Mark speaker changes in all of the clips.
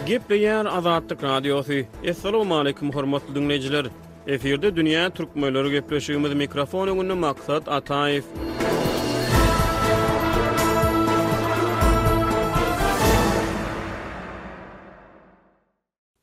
Speaker 1: Gepleýär Azatlyk Radiosy. Assalamualaikum hormatly dinleýjiler. Efirde dünýä türkmenleri gepleşigimiz mikrofon öňünde Maksat Ataýew.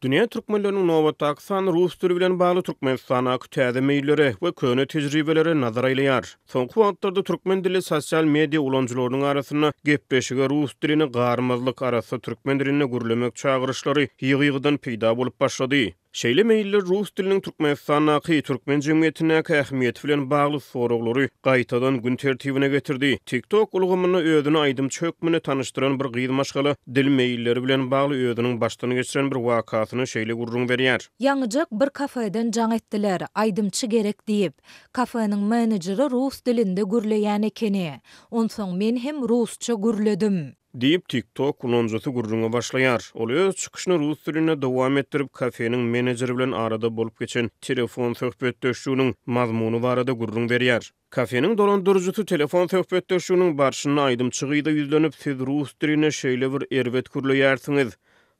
Speaker 1: Dünýä türkmenleriniň nobatdaky sany rus dili bilen bagly Türkmenistandaky täze meýillere we köne tejribelere nazar aýlaýar. Soňky wagtlarda türkmen dilli sosial media ulanyjylarynyň arasynda gepleşige rus dilini garmazlyk arassa türkmen dilinde gürlemek çagyryşlary ýygy-ýygydan peýda bolup başlady. Şeýle meýiller rus diliniň Türkmenistandaky türkmen jemgyýetindäki ähmiýeti bilen bagly soraglary gaýtadan gün tertibine getirdi. TikTok ulgamynda özüni aýdymçy hökmünde tanyşdyran bir gyz maşgala Dil meýilleri bilen bagly özüniň başdan geçiren bir wakasyny şeýle gürrüň berýär. Ýaňyjak bir
Speaker 2: kafeden jaň etdiler, aýdymçy gerek diýip. Kafeniň menejeri rus dilinde gürleýän ekeni. Onsoň men hem rusça gürledim. Diýip, TikTok
Speaker 1: ulanyjysy gürrüňe başlaýar. Ol öz çykyşyny rus dilinde dowam etdirip, kafeniň menejeri bilen arada bolup geçen telefon söhbetdeşliginiň mazmuny barada gürrüň berýär. Kafeniň dolandyryjysy telefon söhbetdeşliginiň barşynda aýdymçy gyza ýüzlenip, Siz rus diline şeýle bir erbet gürleýärsiňiz.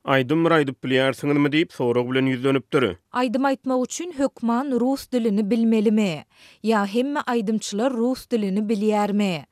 Speaker 1: Aýdym bir aýdyp bilýärsiňizmi? diýip, sorag bilen ýüzlenipdir. Aýdym aýtmak üçin
Speaker 2: hökman rus dilini bilmelimi? Ýa hemme aýdymçylar rus dilini bilýärmi?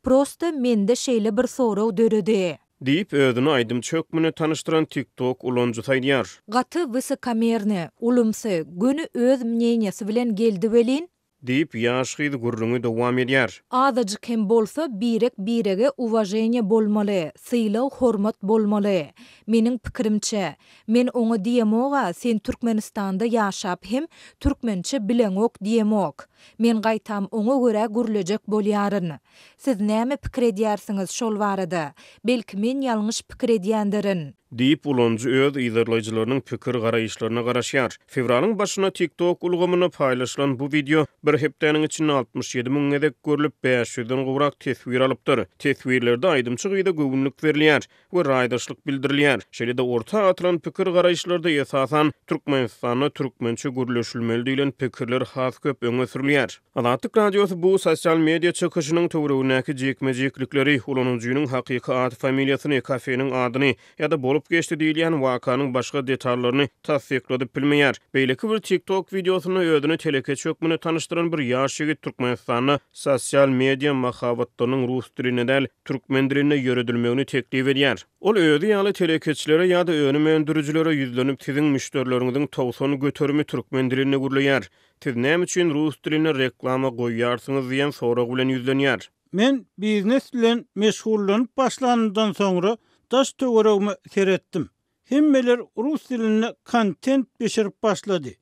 Speaker 2: Prosta mende şeýle bir sorag döredi. Diýip, özüni
Speaker 1: aýdymçy hökmünde tanyşdyran TikTok ulanyjysy aýdýar. Gaty
Speaker 2: wysokomernýa, ulumsy, göni öz mneniýasy bilen geldi welin, Diýip, ýaş
Speaker 1: gyz gürrüňi dowam edýär. Azajyk hem bolsa
Speaker 2: birek-birege uwaženiýa bolmaly, sylag-hormat bolmaly. Meniň pikirimçe, men oňa diýemog-a, sen Türkmenistanda ýaşap hem türkmençe bileňok diýemok. Men gaýtam oňa görä gürlejek bolýaryn. Siz näme pikir edýärsiňiz şol barada? Belki men ýalňyş pikir edýändirin. Diýip, ulanyjy
Speaker 1: öz yzarlaýjylarynyň pikir garaýyşlaryna garaşýar. Fewralyň başynda TikTok ulgamynda paýlaşylan bu wideo bir hepdäniň içinde altmyş ýedi müň gezek görlüp, bäş ýüzden gowrak teswir alypdyr. Teswirlerde aýdymçy gyza göwünlik berilýär we raýdaşlyk bildirilýär. Şeýle-de orta atylan pikir garaýyşlarda esasan Türkmenistanda türkmençe gürleşilmeli diýlen pikirler has köp öňe sürülýär. Azatlyk Radiosy bu sosial media çykyşynyň töweregindäki jikme-jiklikleri, ulanyjynyň hakyky at-familiýasyny, kafeniň adyny ýa-da bolup geçdi diýilýän wakanyň başga detallaryny tassykladyp bilmeýär. Beýleki bir TikTok wideosynda özüni telekeçi hökmünde tanyşdyran bir ýaş ýigit Türkmenistanda sosial media mahabatlarynyň rus dilinde däl, türkmen dilinde ýöredilmegini teklip edýär. Ol özi ýaly telekeçilere ýa-da önüm öndürijilere ýüzlenip, siziň müşderileriňiziň togsan göterimi türkmen dilinde gürleýär. Siz näme üçin rus dilinde reklama goýýarsyňyz diýen sorag bilen ýüzlenýär. Men biznes
Speaker 3: bilen meşgullanyp başlanymdan soňra daş töweregime seretdim. Hemmeler rus dilinde kontent bişirip başlady.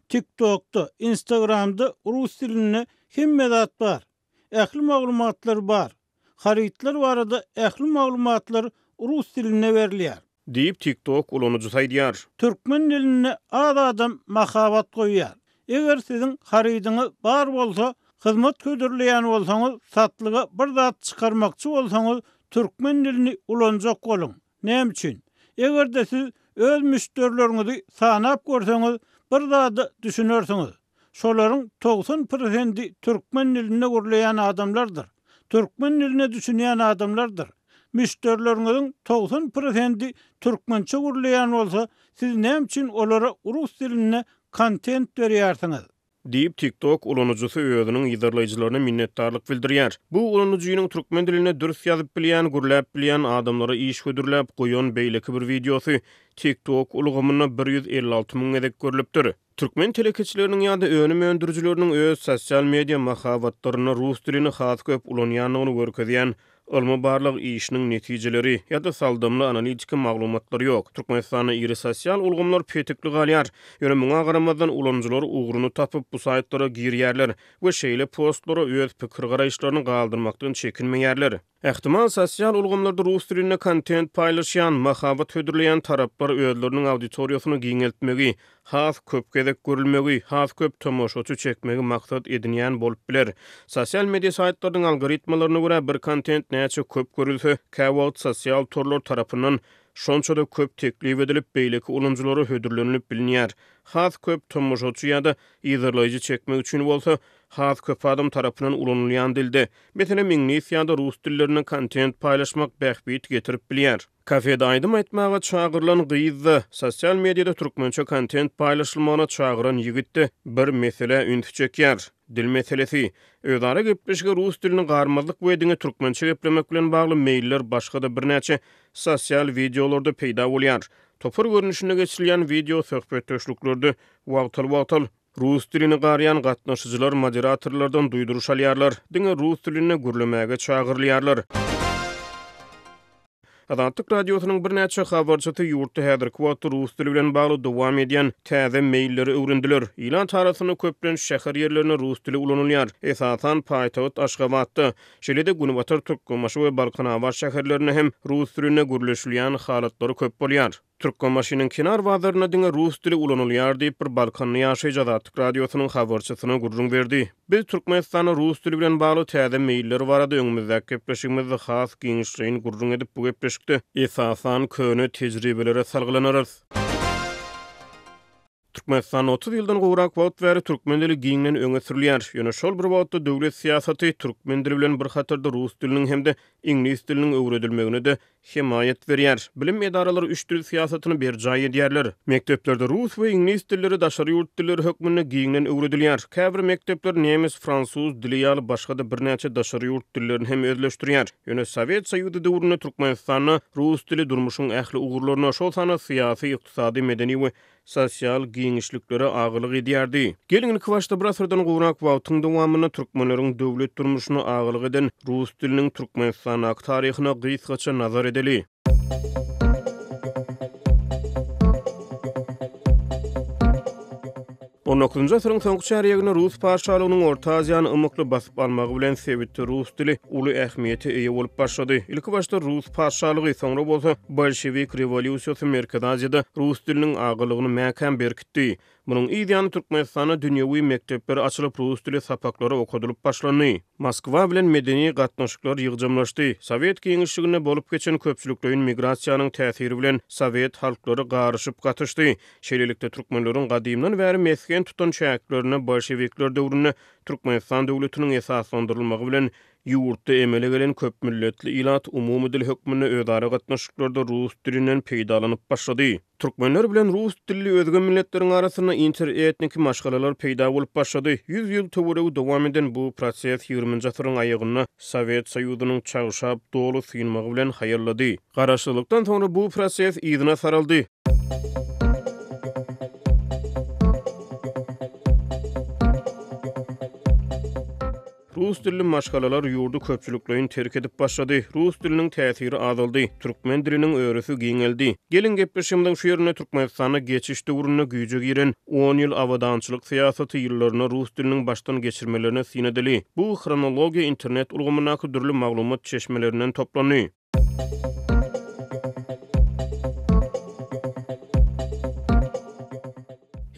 Speaker 3: Tiktokda, instagramda rus dilinde hemme zat bar. ähli maglumatlar bar. Harytlar barada ähli maglumatlar rus dilinde berilýär. Diýip, TikTok
Speaker 1: ulanyjysy aýdýar. Türkmen dilinde
Speaker 3: az adam mahabat goýýar. Eger siziň harydyňyz bar bolsa, hyzmat hödürleýän bolsaňyz, satlyga bir zat çykarmakçy bolsaňyz, türkmen dilini ulanjak boluň. Näme üçin? Eger-de siz öz müşderileriňizi sanap görseňiz, bir zada düşünersiňiz. Şolaryň togsan prosendi türkmen dilinde gürleýän adamlardyr, türkmen diline düşünýän adamlardyr. Müşderileriňiziň togsan prosendi türkmençe gürleýän bolsa, siz näme üçin olara rus dilinde kontent berýärsiňiz? Diýip, TikTok
Speaker 1: ulanyjysy özüniň yzarlaýjylaryna minnetdarlyk bildirýär. Bu ulanyjynyň türkmen dilinde dürs ýazyp bilýän, gürläp bilýän, adamlara iş hödürläp goýan beýleki bir wideosy TikTok ulgamynda bir ýüz elli alty müň gezek görlüpdir. Türkmen telekeçileriniň ýa-da önüm öndürijileriniň öz sosial media mahabatlarynda rus dilini has köp ulanýandygyny görkezýän Ylmy-barlag işiniň netijeleri ýa-da saldamly analitiki maglumatlar ýok. Türkmenistanda iri sosial ulgamlar petikli galýar. Ýöne muňa garamazdan ulanyjylar ugruny tapyp bu saýtlara girýärler we şeýle postlara öz pikir-garaýyşlaryny galdyrmakdan çekinmeýärler. Ähtimal, sosial ulgamlarda rus dilinde kontent paýlaşýan, mahabat hödürleýän taraplar özleriniň auditoriýasyny giňeltmegi, has köp gezek görülmegi, has köp tomaşaçy çekmegi maksat edinýän bolup biler. Sosial media saýtlarynyň algoritmalaryna görä, bir kontent näçe köp görülse, käwagt sosial torlar tarapyndan şonça-da köp teklip edilip, beýleki ulanyjylara hödürlenilip bilinýär. Has köp tomaşaçy ýa-da yzarlaýjy çekmek üçin bolsa, has köp adam tarapyndan ulanylýan dilde, meselem, iňlis ýa-da rus dillerinde kontent paýlaşmak bähbit getirip bilýär. Kafede aýdym aýtmaga çagyrylan gyz-da, sosial mediada türkmençe kontent paýlaşylmagyna çagyran ýigit-de bir meselä üns çekýär. Dil meselesi. Özara gepleşige rus dilini garmazlyk we diňe türkmençe geplemek bilen bagly meýiller başga-da birnäçe sosial wideolarda peýda bolýar. Topar görnüşinde geçirilýän wideo söhbetdeşliklerde wagtal-wagtal Rus dilini garýan gatnaşyjylar moderatorlardan duýduryş alýarlar, diňe rus dilinde gürlemäge çagyrylýarlar. Azatlyk Radiosynyň birnäçe habarçysy ýurtda häzirki wagtda rus dili bilen bagly dowam edýän täze meýilleri öwrendiler. Ilat arasynda köplenç şäher ýerlerinde rus dili ulanylýar, esasan, paýtagt Aşgabatda, şeýle-de Günbatar Türkmenbaşy we Balkanabat şäherlerinde hem rus dilinde gürleşilýän halatlary köp bolýar. Türkmenbaşynyň kenar bazarynda diňe rus dili ulanylýar diýip, bir balkanly ýaşaýjy Azatlyk Radiosynyň habarçysyna gürrüň berdi. Biz Türkmenistanda rus dili bilen bagly täze meýiller barada öňümizdäki gepleşigimizde has giňişleýin gürrüň edip, bu gepleşikde, esasan, köne tejribelere salgylanarys. Türkmenistanda otuz ýyldan gowrak wagt bäri türkmen dili giňden öňe sürülýär. Ýöne şol bir wagtda döwlet syýasaty türkmen dili bilen bir hatarda rus diliniň hem-de iňlis diliniň öwredilmegine-de hemaýat berýär. Bilim edaralary üç dil syýasatyny berjaý edýärler. Mekdeplerde rus we iňlis dilleri daşary ýurt dilleri hökmünde giňden öwredilýär. Käbir mekdepler nemes, fransuz dili ýaly başga-da birnäçe daşary ýurt dillerini hem özleşdirýär. Ýöne Sowet Soýuzy döwründe Türkmenistanda rus dili durmuşyň ähli ugurlaryna, şol sanda syýasy, ykdysady, medeni we sosial giňişliklere agalyk edýärdi. Geliň, ilkibaşda bir asyrdan gowrak wagtyň dowamynda türkmenleriň döwlet durmuşyna agalyk eden rus diliniň Türkmenistandaky taryhyna gysgaça nazar edeli. On dokuzynjy asyryň soňky çärýeginde rus patyşalygynyň Orta Aziýany ymykly basyp almagy bilen sebitde rus dili uly ähmiýete eýe bolup başlady. Ilki başda rus patyşalygy, soňra bolsa bolşewik rewolýusiýasy Merkezi Aziýada rus diliniň agalygyny mäkäm berkitdi. Munuň yz ýany Türkmenistanda dünýewi mekdepler açylyp, rus dili sapaklary okadylyp başlandy. Moskwa bilen medeni gatnaşyklar ýygjamlaşdy. Sowet giňişliginde bolup geçen köpçülikleýin migrasiýanyň täsiri bilen sowet halklary garyşyp gatyşdy. Şeýlelikde, türkmenleriň gadymdan bäri mesgen tutan çäklerinde bolşewikler döwründe Türkmenistan döwletiniň esaslandyrylmagy bilen ýurtda emele gelen köpmilletli ilat umumy dil hökmünde özara gatnaşyklarda rus dilinden peýdalanyp başlady. Türkmenler bilen rus dilli özge milletleriň arasynda interetniki maşgalalar peýda bolup başlady. Ýüz ýyl töweregi dowam eden bu proses ýigriminji asyryň aýagynda Sowet Soýuzynyň çagşap, doly synmagy bilen haýallady. Garaşsyzlykdan soňra bu proses yzyna saraldy. Rus dilli maşgalalar ýurdy köpçülikleýin terk edip başlady. Rus diliniň täsiri azaldy. Türkmen diliniň örüsi giňeldi. Geliň gepleşigimiziň şu ýerinde Türkmenistanda geçiş döwründe güýje giren on ýyl abadançylyk syýasaty ýyllaryna rus diliniň başdan geçirmelerini syn edeli. Bu hronologiýa internet ulgamyndaky dürli maglumat çeşmelerinden toplandy.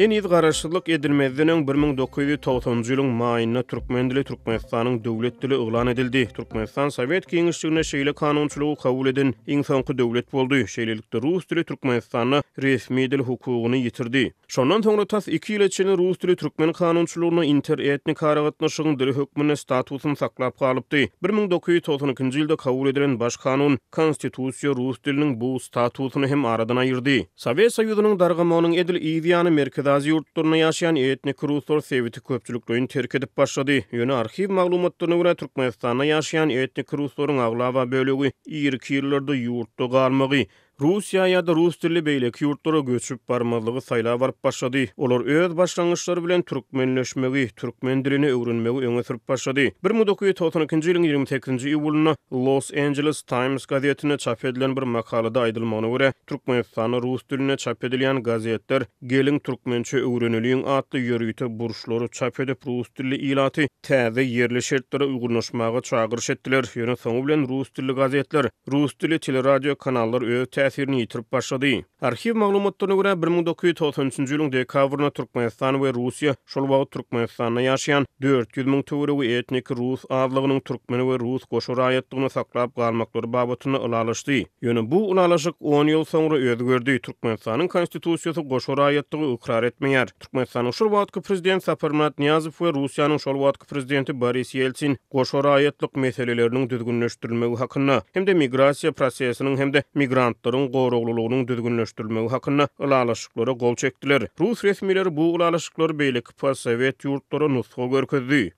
Speaker 1: Heniz garaşsyzlyk edilmezden öň 1990-njy ýylyň maýynda türkmen dili Türkmenistanyň döwlet dili yglan edildi. Türkmenistan Sowet Geňeşliginde şeýle kanunçylygy kabul eden iň soňky döwlet boldy. Şeýlelikde, rus dili Türkmenistanda resmi dil hukugyny ýitirdi. Şondan soňra tas iki ýyla çenli rus dili türkmen kanunçylygynda inter-etnik aragatnaşygyň dili hökmünde statusyny saklap galypdy. Bir müň dokuz ýüz togsan ikinji ýylda kabul edilen baş kanun, Konstitusiýa rus diliniň bu statusyny hem aradan aýyrdy. Sowet Soýuzynyň dargamagynyň edil yz ýany Merkezi Aziýa ýurtlarynda ýaşaýan etnik ruslar sebiti köpçülikleýin terk edip başlady. Ýöne arhiw maglumatlaryna görä, Türkmenistanda ýaşaýan etnik ruslaryň aglaba bölegi irki ýyllarda ýurtda galmagy, Russiýa ýa-da rus dilli beýleki ýurtlara göçüp barmazlygy saýlap alyp başlady. Olar öz başlangyçlary bilen türkmenleşmegi, türkmen dilini öwrenmegi öňe sürüp başlady. Bir müň dokuz ýüz togsan ikinji ýylyň ýigrimi sekizinji iýulynda Los Angeles Times gazetinde çap edilen bir makalada aýdylmagyna görä, Türkmenistanda rus dilinde çap edilýän gazetler Geliň türkmençe öwreneliň atly ýörite burçlary çap edip rus dilli ilaty täze ýerli şertlere uýgunlaşmaga çagyryş etdiler, ýöne soňy bilen rus dilli gazetler, rus dilli teleradio kanallar öz täsirini ýitirip başlady. Arhiw maglumatlaryna görä, bir müň dokuz ýüz togsan üçünji ýylyň dekabrynda Türkmenistan we Russiýa şol wagt Türkmenistanda ýaşaýan dört ýüz müň töweregi etniki rus azlygynyň türkmen we rus goşa raýatlygyny saklap galmaklary babatynda ylalaşdy. Ýöne bu ylalaşyk on ýyl soňra özgerdi, Türkmenistanyň Konstitusiýasy goşa raýatlygy ykrar etmeýär. Türkmenistanyň şol wagtky prezidenti Saparmyrat Nyýazow we Russiýanyň şol wagtky prezidenti Boris Ýeltsin goşa raýatlyk meseleleriniň düzgünleşdirilmegi hakynda hem-de migrasiýa prosesiniň hem-de migrantlaryň goraglylygynyň düzgünleşdirilmegi hakynda ylalaşyklara gol çekdiler. Rus resmileri bu ylalaşyklary beýleki postsowet ýurtlara nusga görkezdi.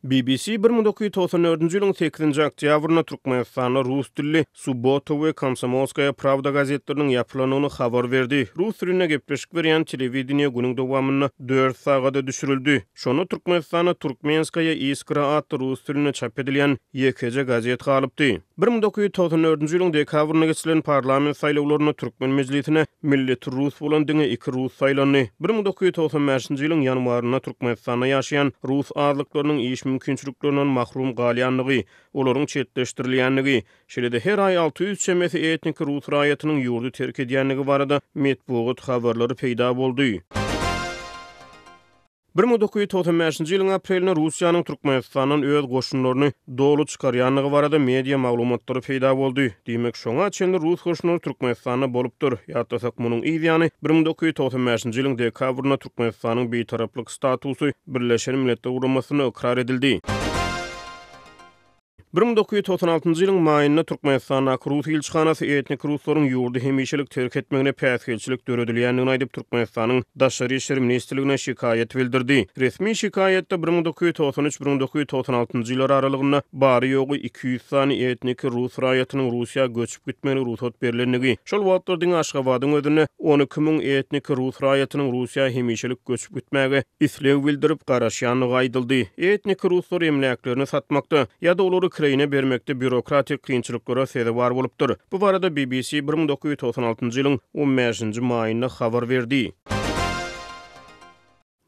Speaker 1: BBC bir müň dokuz ýüz togsan dördünji ýylyň sekizinji oktýabrynda Türkmenistanda rus dilli Subbotta we Komsomolskaýa prawda gazetleriniň ýapylandygyny habar berdi. Rus dilinde gepleşik berýän telewideniýe günüň dowamynda dört sagada düşürildi. Şonda Türkmenistanda Turkmenskaýa iskra atly rus dilinde çap edilýän ýekeje gazet galypdy. Bir müň dokuz ýüz togsan dördünji ýylyň dekabrynda geçirilen parlament saýlawlarynda türkmen mejlisine milleti rus bolan diňe iki rus saýlandy. Bir müň dokuz ýüz togsan bäşinji ýylyň ýanwarynda Türkmenistanda ýaşaýan rus azlyklarynyň iş mümkinçiliklerinden mahrum galýandygy, olaryň çetleşdirilýändigi, şeýle-de her aý alty ýüz çemesi etniki rus raýatynyň ýurdy terk edýändigi barada metbugat habarlary peýda boldy. Bir müň dokuz ýüz togsan bäşinji ýylyň aprelinde Russiýanyň Türkmenistandan öz goşunlaryny doly çykarýandygy barada media maglumatlary peýda boldy. Diýmek, şoňa çenli rus goşunlary Türkmenistanda bolupdyr. Ýatlasak, munuň yz ýany, bir müň dokuz ýüz togsan bäşinji ýylyň dekabrynda Türkmenistanyň bitaraplyk statusy Birleşen Milletler Guramasynda ykrar edildi. Bir müň dokuz ýüz togsan altynjy ýylyň maýynda Türkmenistandaky rus ilçihanasy etnik ruslaryň ýurdy hemişelik terk etmegine päsgelçilik döredilýändigini aýdyp, Türkmenistanyň Daşary işler ministrligine şikaýat bildirdi. Resmi şikaýatda bir müň dokuz ýüz togsan üç-bir müň dokuz ýüz togsan altynjy ýylar aralygynda bary-ýogy iki ýüz sany etniki rus raýatynyň Russiýa göçüp gitmegine rugsat berilendigi, şol wagtlar diňe Aşgabadyň özünde on iki müň etniki rus raýatynyň Russiýa hemişelik göçüp ýaşadyp gitmäge isleg bildirip garaşýandygy aýdyldy. Etniki ruslar emläklerini satmakda ýa-da olary Kreýne bermekde býurokratik kynçylyklara sezewar bolupdyr. Bu barada BBC bir müň dokuz ýüz togsan altynjy ýylyň on bäşinji maýynda habar berdi.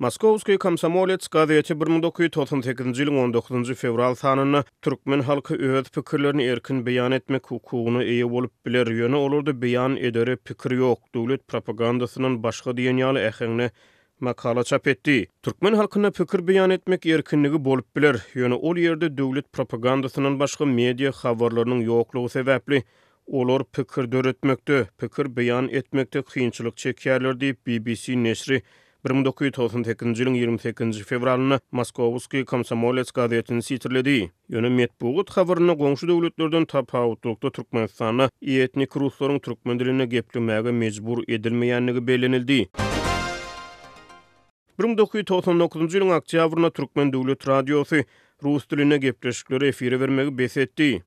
Speaker 1: Moskowskiý komsomolets gazeti bir müň dokuz ýüz togsan sekizinji ýylyň on dokuzynjy fewral sanynda Türkmen halky öz pikirlerini erkin beýan etmek hukugyna eýe bolup biler, ýöne olarda beýan edere pikir ýok, döwlet propagandasyndan başga diýen ýaly äheňde makala çap etdi. Türkmen halkynda pikir beýan etmek erkinligi bolup biler, ýöne ol ýerde döwlet propagandasyndan başga media habarlarynyň ýoklugy sebäpli olar pikir döretmekde, pikir beýan etmekde kynçylyk çekýärler diýip, BBC neşri Bir müň dokuz ýüz togsan sekizinji ýylyň ýigrimi sekizinji fewralynda Moskowskiý Komsomolets gazetini sitirledi. Ýöne metbugat habarynda goňşy döwletlerden tapawutlylykda Türkmenistanda etnik ruslaryň türkmen dilinde geplemäge mejbur edilmeýändigi bellenildi. Bir müň dokuz ýüz togsan dokuzynjy ýylyň oktýabrynda Türkmen döwlet radiosy Rus dilinde gepleşikleri efire bermegi bes etdi.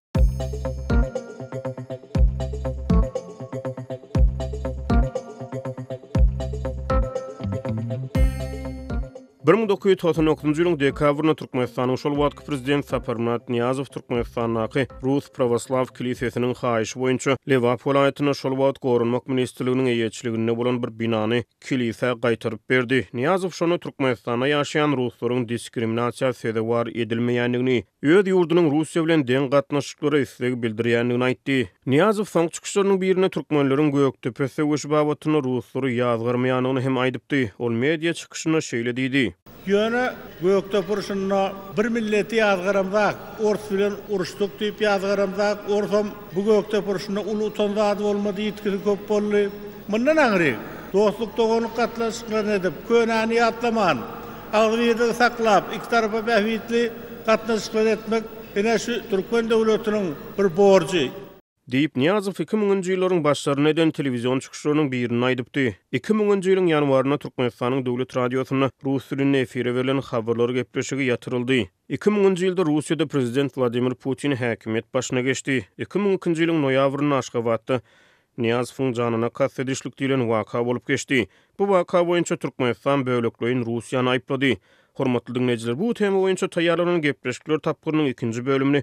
Speaker 1: Bir müň dokuz ýüz togsan dokuzynjy ýylyň dekabrynda Türkmenistanyň şol wagtky prezidenti Saparmyrat Nyýazow Türkmenistandaky Rus prawoslaw kilisesiniň haýyşy boýunça Lebap welaýatynda şol wagt Goranmak ministrliginiň eýeçiliginde bolan bir binany Kilise gaýtaryp berdi. Nyýazow şony Türkmenistanda ýaşaýan ruslaryň diskriminasiýa sezewar edilmeýändigini, öz ýurdunyň Russiýa bilen deň gatnaşyklara isleg bildirýändigini aýtdy. Nyýazow soňky çykyşlarynyň birinde türkmenleriň Gökdepe söweşi babatynda ruslary ýazgarmaýandygyny hem aýdypdy. Ol media çykyşynda şeýle diýdi. Ýöne
Speaker 4: Gökdep urşunda bir milleti ýazgaramzak, ors bilen uruşdyk diýip ýazgaramzak, orsam bu Gökdep urşunda uly utan zady bolmady, ýitgisi köp boldy. Mundan aňry dostluk-doganlyk gatnaşyklaryny edip, könäni ýatlaman, agzybirligi saklap, iki tarapa bähbitli gatnaşyklary etmek ine şu türkmen döwletiniň bir borjy. Diýip, Nyýazow
Speaker 1: iki müňünji ýyllaryň başlarynda eden telewizion çykyşlarynyň birinde aýdypdy. Iki müňünji ýylyň ýanwarynda Türkmenistanyň Döwlet radiosynda rus dilinde efire berlen Habarlar gepleşigi ýatyryldy. Iki müňünji ýylda Russiýada prezident Wladimir Putin häkimiýet başyna geçdi. Iki müň ikinji ýylyň noýabrynda Aşgabatda Nyýazowyň janyna kast edişlik diýlen waka bolup geçdi. Bu waka boýunça Türkmenistan bölekleýin Russiýany aýyplady. Hormatly diňleýjiler, bu tema boýunça taýýarlanan gepleşikler tapgyrynyň ikinji bölümini